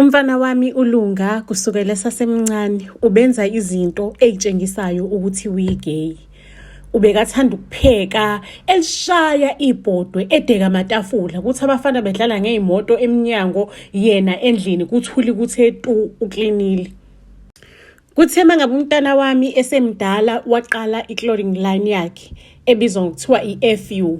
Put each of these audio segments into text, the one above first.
Umfana wami uLunga kusukela esasemncane ubenza izinto ey'tshengisayo ukuthi uyi-gay. Ubekathanda ukupheka, elishaya ibhodwe, edeka amatafula, kuthi abafana bedlala ngey'moto emnyango, yena endlini kuthuli kuthe tu uklinile. Kuthe mangabe umntana wami esemdala waqala i-clothing line yakhe ebizwa ngokuthiwa i-FU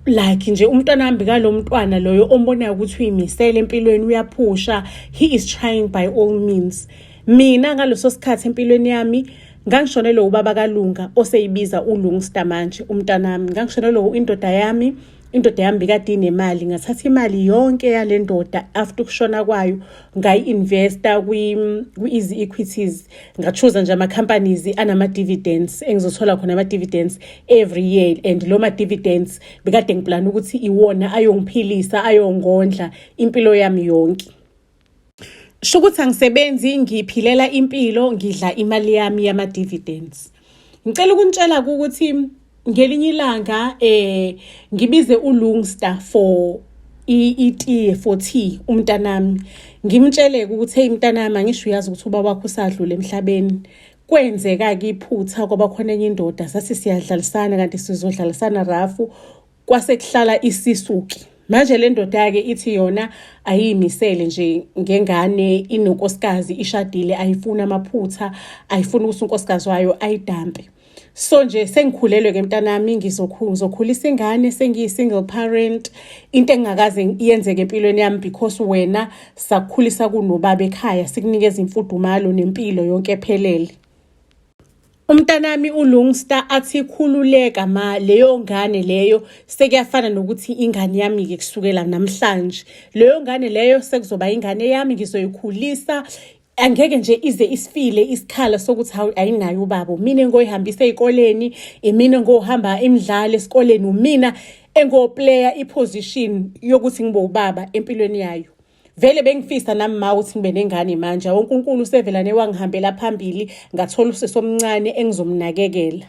like nje umntwana wami kalo mntwana loyo ombonayo ukuthi uyimisele empilweni uyaphusha he is trying by all means mina ngaleso sikhathi empilweni yami ngangishonelwe ubaba kalunga oseyibiza ulungstar manje umntanami ngangishonelwe indoda yami indoda yami bikade inemali ngathatha imali yonke yale ndoda after ukushona kwayo ngayi-investa kwi-easy equities ngachuza nje ama-companies anama-dividends engizothola khona ama-dividends every year and lo ma-dividends bekade ngiplana ukuthi iwona ayongiphilisa ayongondla impilo yami yonke Sho ukuthi angisebenzi ngiphilela impilo ngidla imali yami yama dividends. Ngicela ukunitshela ukuthi ngelinye ilanga eh ngibize uLungsta for itiye for tea umntanami ngimtsheleke ukuthi hey mntanami angisho uyazi ukuthi ubaba wakho usadlule emhlabeni kwenzeka-ke iphutha kwaba khona enye indoda sathi siyadlalisana kanti sizodlalisana rafu kwase kuhlala isisuki manje le ndoda-ke ithi yona ayiyimisele nje ngengane inonkosikazi ishadile ayifuni amaphutha ayifuni ukuthi unkosikazi wayo ayidampe so nje sengikhulelwe ke mntanami ngizokhulisa ingane sengiyi-single parent into engingakaze yenzeke empilweni yami because wena sakukhulisa kunobaba ekhaya sikunikeza imfudumalo nempilo yonke ephelele Umntanami uLungsta athi khululeka ma leyo ngane leyo sekuyafana nokuthi ingane yami ke kusukela namhlanje leyo ngane leyo sekuzoba ingane yami ngizoyikhulisa angeke nje ize isifile isikhala sokuthi hawu ayinayo ubaba mina engoyihambisa ezikoleni imina engohamba imidlalo esikoleni umina engoplayer iposition yokuthi ngibe ubaba empilweni yayo vele bengifisa nami ma ukuthi ngibe nengane manje wonke unkulu usevelane wangihambela phambili ngathola usisi omncane engizomnakekela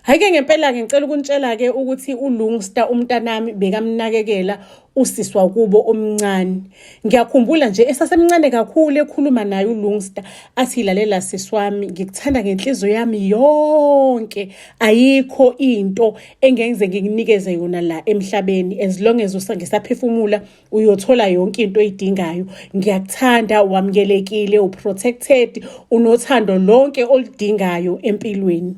hhayi-ke ngempela-ke ngicela ukunitshela-ke ukuthi ulungsta umntanami bekamnakekela usisi wakubo omncane ngiyakhumbula nje esasemncane kakhulu ekhuluma naye ulungsta athi lalela sisi wami ngikuthanda ngenhliziyo yami yonke ayikho into engenze ngikunikeze yona la emhlabeni as long as ngisaphefumula uyothola yonke into oyidingayo ngiyakuthanda wamukelekile uprotected unothando lonke oludingayo empilweni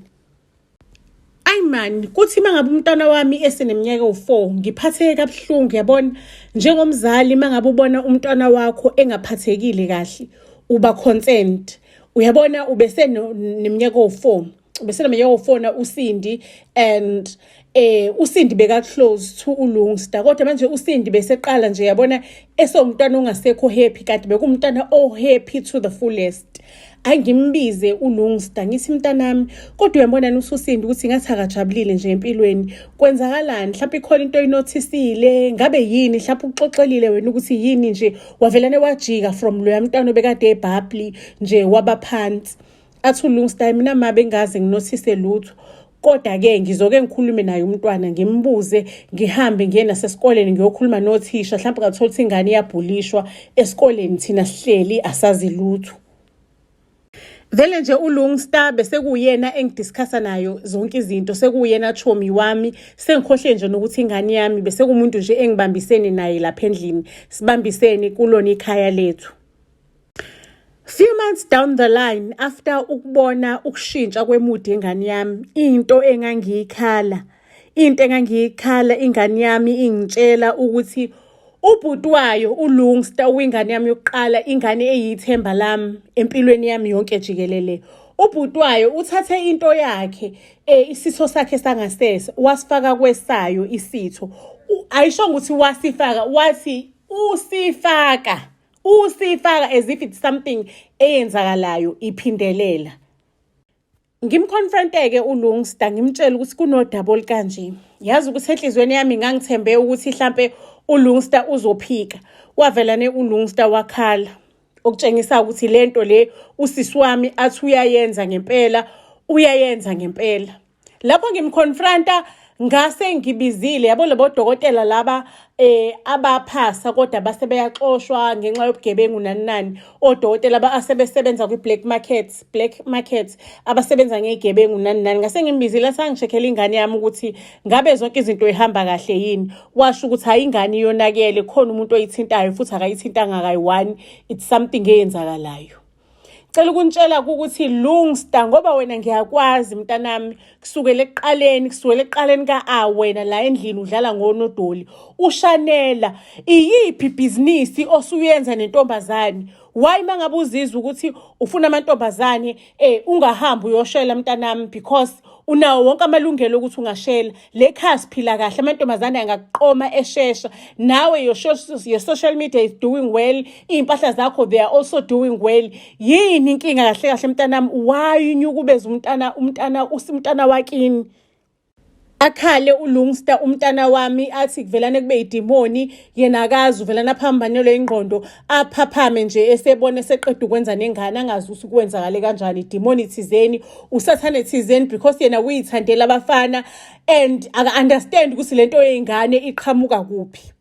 ayi mani kuthi uma ngabe umntwana wami eseneminyaka ewu-four ngiphatheke kabuhlungu yabona njengomzali uma ngabe ubona umntwana wakho engaphathekile kahle uba concerned uyabona ubeseneminyaka ewu-four bese nami yofona uSindi and eh uSindi beka close to uLungsta kodwa manje uSindi beseqala nje yabona esomntwana ongasekho happy kanti bekumntana o happy to the fullest angimbize uLungsta ngithi mntanami kodwa uyambonani uSusindi ukuthi ngathi akajabulile nje empilweni kwenzakalani mhlawumbe ikhona into oyinothisile ngabe yini mhlawumbe uxoxelile wena ukuthi yini nje wavelane wajika from loya mntwana obekade ebhabli nje wabaphansi athi ulungsta mina ma bengaze nginothise lutho kodwa-ke ngizoke ngikhulume naye umntwana ngimbuze ngihambe ngiye nasesikoleni ngiyokhuluma nothisha mhlawumbe ngathola ukuthi ingane iyabhulishwa esikoleni thina sihleli asazi lutho vele nje ulungstar besekuyena engidiscussa nayo zonke izinto sekuyena chomi wami sengikhohle nje nokuthi ingane yami besekumuntu nje engibambisene naye lapha endlini sibambisene kulona ikhaya lethu Few months down the line after ukubona ukushintsha kwemudi yengane yami into engangiyikhala into engangiyikhala ingane yami ingitshela ukuthi ubhuti wayo ulungsta owingane yami yokuqala ingane eyithemba lami empilweni yami yonke jikelele ubhuti wayo uthathe into yakhe um isitho sakhe sangasese wasifaka kwesayo isitho ayishongo ukuthi wasifaka wathi usifaka usifaka as if it's something eyenzakalayo iphindelela ngimconfronte-ke ulungsta ngimtshele ukuthi kunodaba olukanje yazi ukuthi enhliziyweni yami ngangithembe ukuthi hlampe ulungsta uzophika wavelane ulungsta wakhala okutshengisa ukuthi le nto le usisi wami athi uyayenza ngempela uyayenza ngempela lapho ngimconfronta ngase ngibizile yabo labo dokotela laba eh abaphasa kodwa base beyaxoshwa ngenxa yobugebengu nani nani odokotela asebesebenza kwi-black market black market abasebenza ngegebengu nani nani ngase ngimbizile sangishekhela ingane yami ukuthi ngabe zonke izinto ihamba kahle yini washo ukuthi hayi ingane iyonakele khona umuntu oyithintayo futhi akayithintanga kayi-one it's something eyenzakalayo cela ukuntshela ukuthi lungsta ngoba wena ngiyakwazi mntanami kusukela ekuqaleni kusukela ekuqaleni ka-a wena la endlini udlala ngonodoli ushanela iyiphi ibhizinisi osuyenza nentombazane why mangabe uzizwa ukuthi ufuna amantombazane eh ungahambi uyoshela mntanami because unawo wonke amalungelo ukuthi ungashela le khaya siphila kahle amantombazane angakuqoma eshesha nawe your, your social media is doing well iy'mpahla zakho they are also doing well yini inkinga kahle kahle mntanami why unyukubeza umntana umntana umntana wakini akhale ulungsta umntana wami athi kuvelane kube idimoni yena akazi uvela naphambanelwe ingqondo aphaphame nje esebona eseqeda ukwenza nengane angazi ukuthi kwenzakale kanjani idimoni thizeni usathane thizeni because yena uyithandela abafana and aka-understand ukuthi le nto yey'ngane iqhamuka kuphi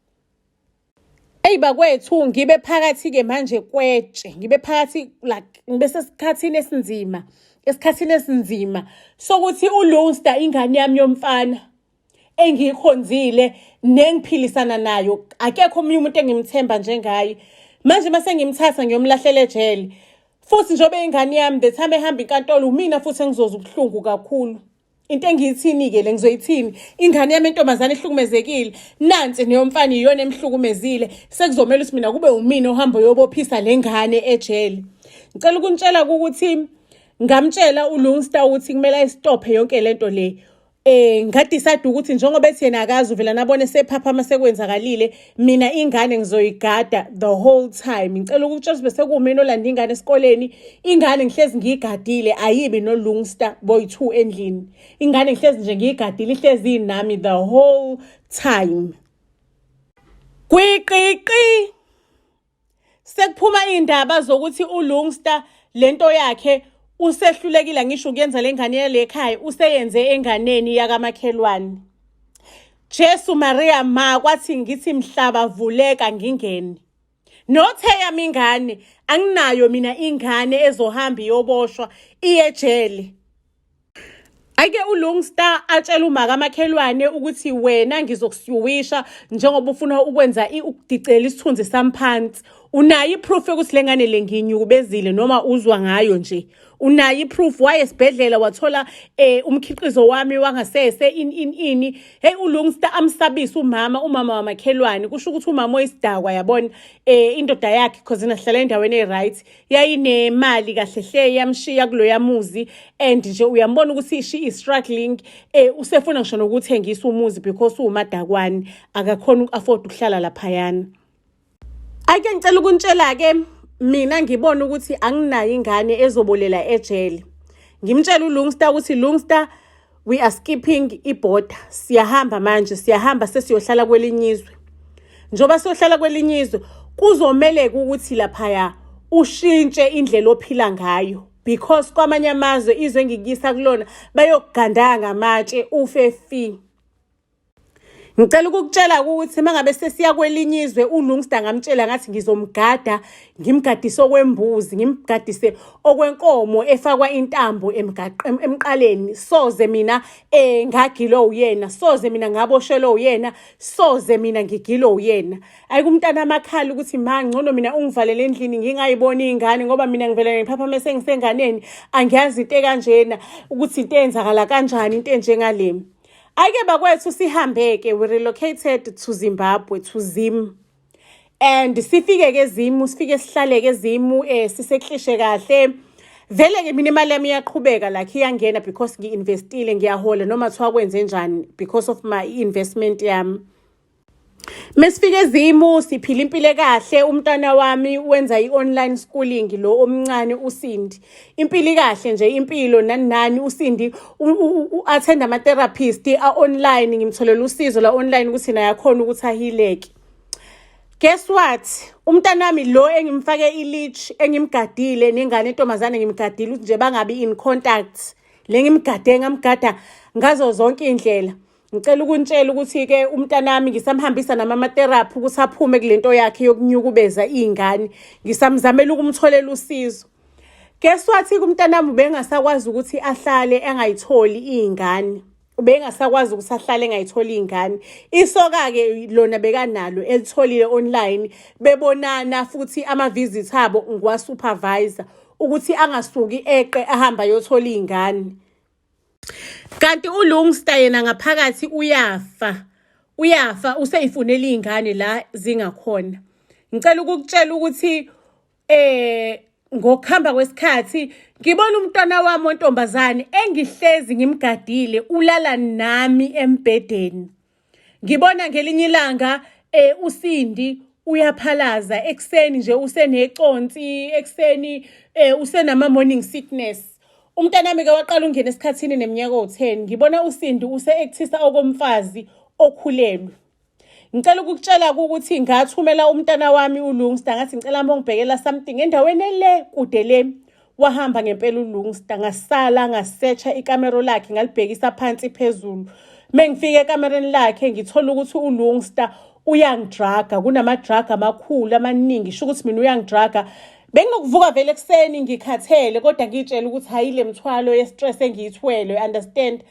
eyi bakwethu ngibe phakathi-ke manje kwetshe ngibe phakathi like ngibe sesikhathini esinzima esikhathini esinzima sokuthi ulunster ingane yami yomfana engiyikhonzile nengiphilisana nayo akekho omunye umuntu engimthemba njengaye manje uma sengimthatha ngiyomlahlela ejele futhi njengoba ingane yami the time ehamba inkantolo umina futhi engizoza ubuhlungu kakhulu into engiyithini-ke le ngizoyithini ingane yami entombazane ehlukumezekile nansi neyomfana iyona emhlukumezile sekuzomele ukuthi mina kube umina ohamba oyobophisa le ngane ejele ngicela ukunitshela ukuthi ngamtshela ulungsta ukuthi kumele ayistophe yonke le nto le eh ngadecide ukuthi njengoba ethi yena akazi uvela nabone sephaphama sekwenzakalile mina ingane ngizoyigada the whole time ngicela ukuthi Joseph sekumina olanda ingane esikoleni ingane ngihlezi ngiyigadile ayibi no Lungster boy 2 endlini ingane ngihlezi nje ngiyigadile ihlezi nami the whole time kwiqiqi Sekuphuma indaba zokuthi uLungsta lento yakhe usehlulekile ngisho ukuyenza lengane yalekhaya useyenze enganeni yakamakhelwane. Jesu Maria ma kwathi ngithi mhlaba vuleka ngingene. Nothe yami ingane anginayo mina ingane ezohamba iyoboshwa iyejele. Ake uLungstar atshela umaka amakhelwane ukuthi wena ngizokusuwisha njengoba ufuna ukwenza ukudicela isithunzi samphansi. Unayo iproof yokuthi lengane lenginyukubezile noma uzwa ngayo nje. Unayo iproof waye esibhedlela wathola eh, umkhiqizo wami wangasese in in ini. Hey uLungstar amsabisa umama umama wamakhelwane kusho ukuthi umama oyisidakwa yabona eh, indoda yakhe because nahlala endaweni eright. yayinemali kahle hle yamshiya kuloya muzi and nje uyambona ukuthi she is struggling eh usefuna ngisho nokuthengisa umuzi because uwumadakwani akakhona uku-afford ukuhlala laphayana ake ngicela ukuntshela-ke mina ngibona ukuthi anginayo ingane ezobolela ejele ngimtshela ulungsta ukuthi lungsta we are skipping iborder siyahamba manje siyahamba sesiyohlala kwelinye izwe njengoba siyohlala kwelinye izwe kuzomeleka ukuthi laphaya ushintshe indlela ophila ngayo because kwamanye amazwe izwe engikuyisa kulona bayokugandanga amatshe ufe fi ngicela ukukutshela ukuthi uma ngabe sesiya kwelinye izwe ulungsta ngamtshela ngathi ngizomgada ngimgadise okwembuzi ngimgadise okwenkomo efakwa intambo emqaleni soze mina eh ngagilo uyena soze mina ngaboshelo uyena soze mina ngigilo uyena ayikumntana amakhala ukuthi ma ngcono mina ungivalele endlini ngingayiboni ingane ngoba mina ngivela ngiphapha mase ngisenganeni angiyazi into ekanjena ukuthi into eyenzakala kanjani into enjengalemi Ake bakwethu sihambeke we relocated to Zimbabwe to Zim and sifike ke Zimu sifike sihlale ke Zimu eh siseklishe kahle vele ke mina imali yami iyaqhubeka like iyangena because ngiinvestile ngiyahola noma thiwa kwenze njani because of my investment yami Mesifika ezimu siphila impilo kahle umntana wami wenza i-online schooling lo omncane uSindi. Impilo kahle nje impilo nani nani uSindi u-attend ama-therapist a-online ngimtholela usizo la online ukuthi naye akhona ukuthi ahileke. Guess what? Umntana wami lo engimfake i-leash engimgadile nengane entombazane ngimgadile ukuthi nje bangabi in contact. Le ngimgade ngamgada ngazo zonke iy'ndlela. ngicela ukuntshela ukuthi-ke umntanami ngisamhambisa namamateraphi ukuthi aphume kule nto yakhe yokunyukubeza iy'ngane ngisamzamela ukumtholela usizo guess wathi kumntanami ubengasakwazi ukuthi ahlale engayitholi iy'ngane ubengasakwazi ukuthi ahlale engayitholi iy'ngane isoka-ke lona bekanalo elitholile online bebonana futhi ama-visit abo ngiwasupervisor ukuthi angasuki eqe ahamba ayothola iy'ngane kanti ulungsta yena ngaphakathi uyafa uyafa useyifunela iy'ngane la zingakhona ngicela ukukutshela ukuthi eh ngokuhamba kwesikhathi ngibona umntwana wami ontombazane engihlezi ngimgadile ulala nami embhedeni Ngibona ngelinye ilanga eh uSindi uyaphalaza ekuseni nje useneconsi ekuseni eh usenama morning sickness umntanami ke waqala ungena esikhathini neminyaka o10 ngibona uSindi use actisa okomfazi okhulelwe ngicela ukukutshela ukuthi ngathumela umntana wami ulungsta ngathi ngicela mongibhekela something endaweni ele kude le Wahamba ngempela uLungsta ngasala ngasetsha ikamero lakhe ngalibhekisa phansi phezulu. Mengifika ekamereni lakhe ngithola ukuthi uLungsta uyangidraga kunamadraga amakhulu amaningi sho ukuthi mina uyangidraga benginokuvuka vele ekuseni ngikhathele kodwa ngitshela ukuthi hayi le mthwalo ye-stress engiyithwele understand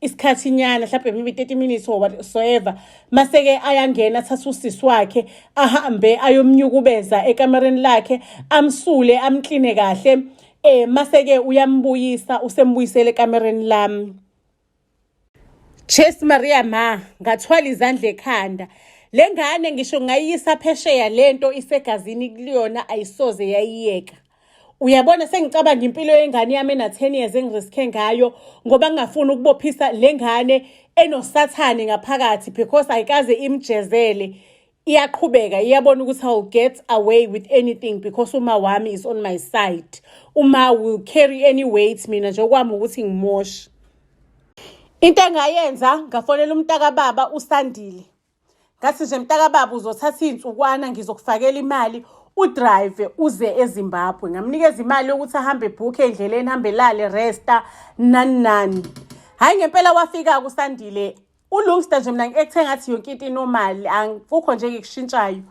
isikhathi nyana mhlawumbe maybe 30 minutes or whatsoever maseke ayangena athatha usisi wakhe ahambe ayomnyukubeza ekamereni lakhe amsule amkline kahle eh maseke uyambuyisa usembuyisele ekamereni lami Chase Maria ma ngathwala izandla ekhanda lengane ngisho ngayisa phesheya lento isegazini kuliyona ayisoze yayiyeka uyabona sengicabanga impilo yengane yami ena-10 years engiriske ngayo ngoba ngingafuni ukubophisa le ngane enosathane ngaphakathi because ayikaze imjezele iyaqhubeka iyabona ukuthi iwill get away with anything because uma wami is on my side uma will carry any weight mina nje okwami ukuthi ngimoshe into engayenza ngafonela umntakababa usandile ngathi nje mntakababa uzothatha iy'nsukwana ngizokufakela imali udrive uze ezimbabwe ngamnikeza imali yokuthi ahambe ebhukhe endleleni hambe lale resta nani nani hhayi ngempela wafika kusandile ulungsta nje mina ngikuthe ngathi yonke into inomali kukho nje ngikushintshayo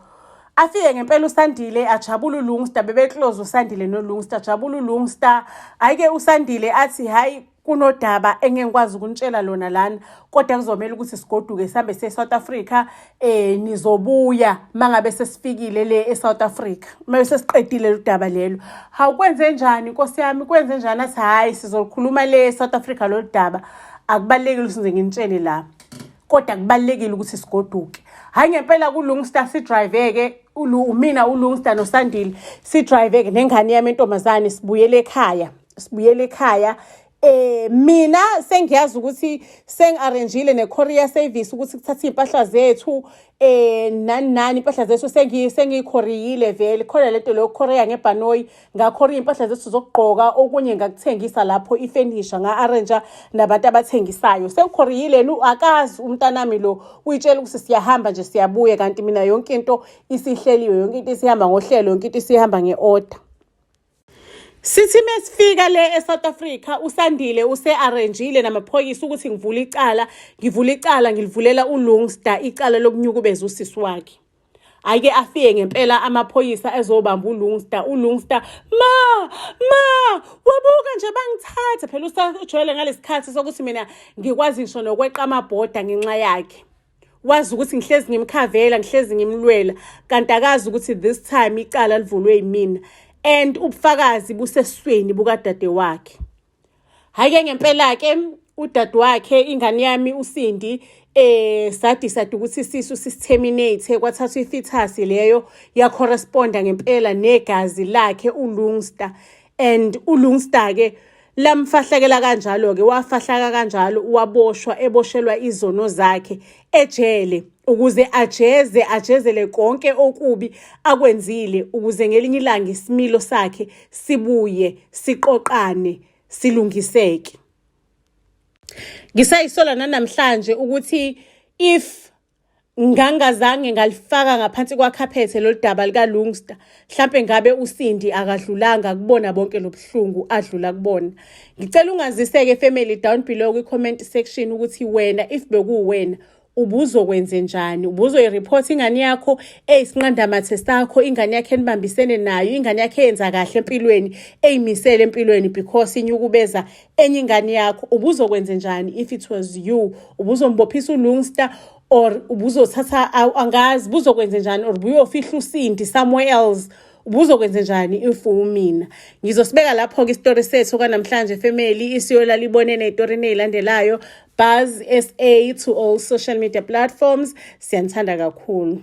afike ngempela usandile ajabula ulungsta bebeclose usandile nolungsta ajabula ulungsta ayike usandile athi hhayi kunodaba engengikwazi ukunitshela lona lana kodwa kuzomela ukuthi sigoduke sihambe se-south africa um nizobuya uma ngabe sesifikile le e-south africa uma sesiqedile lu daba lelo hawu kwenze njani nkosi yami kwenze njani athi hhayi sizolukhuluma le e-south africa lolu daba akubalulekile ukuthi nze nginitshele la kodwa kubalulekile ukuthi sigoduke hhayi ngempela kulungsta sidrive-ke umina ulungsta nosandile sidrive-ke nengane yami entombazane sibuyele ekhaya sibuyele ekhaya Eh mina sengiyazi ukuthi sengiarrangeile necourier service ukuthi kuthatha impahla zethu eh nani nani impahla zethu sengi sengikhoriyile vele khona lento leyo courier ngebhanoyi ngakhoriya impahla zethu zokugqoka okunye ngakuthengisa lapho ifurniture nga arrange nabantu abathengisayo sengikhoriyile nu akazi umntanami lo uyitshela ukuthi siyahamba nje siyabuye kanti mina yonke into isihleliwe yonke into isihamba ngohlelo yonke into isihamba ngeorder Sithi mesifika le eSouth Africa uSandile usearrangeile namaphoyisa ukuthi ngivule icala ngivule icala ngilivulela uLungsta icala lokunyukubeza usisi wakhe ayike afike ngempela amaphoyisa ezobamba uLungsta uLungsta ma ma wabuka nje bangithatha phela usajwayele ngalesikhathi sokuthi mina ngikwazi ngisho nokweqa amabhoda ngenxa yakhe wazi ukuthi ngihlezi ngimkhavela ngihlezi ngimlwela kanti akazi ukuthi this time icala livulwe yimina and ubufakazi busesweni bukadade wakhe hhayi-ke ngempela-ke udade wakhe ingane yami usindi eh sadecide ukuthi isisu sisiterminate kwathathwa ifithasi leyo yacorresponda ngempela negazi lakhe ulungsta and ulungstar ke lamfahlakela kanjalo-ke wafahlaka kanjalo waboshwa eboshelwa izono zakhe ejele ukuze ajeze ajezele konke okubi akwenzile ukuze ngelinye ilanga isimilo sakhe sibuye siqoqane silungiseke ngisayisola nanamhlanje ukuthi if Ngangazange ngalifaka ngaphansi kwakhaphethe lolu daba likaLungsta. Mhlampe ngabe uSindi akadlulanga kubona bonke lobuhlungu adlula kubona. Ngicela ungaziseke family down below kwi-comment section ukuthi wena if bekuwuwena ubuzokwenze njani ubuzoyireport ingane yakho eyisinqandamathe sakho ingane yakho enibambisene nayo ingane yakho eyenza kahle empilweni eyimisele empilweni because inyukubeza enye ingane yakho ubuzokwenze njani if it was you ubuzombophisa ulungster or ubuzothatha angazi buzokwenze njani or buyofihla usindi somewhere else ubuzokwenze njani if umina ngizosibeka lapho-ke isitori sethu kwanamhlanje family isiyolala ibone ney'torini ey'landelayo buzz sa to all social media platforms siyanithanda kakhulu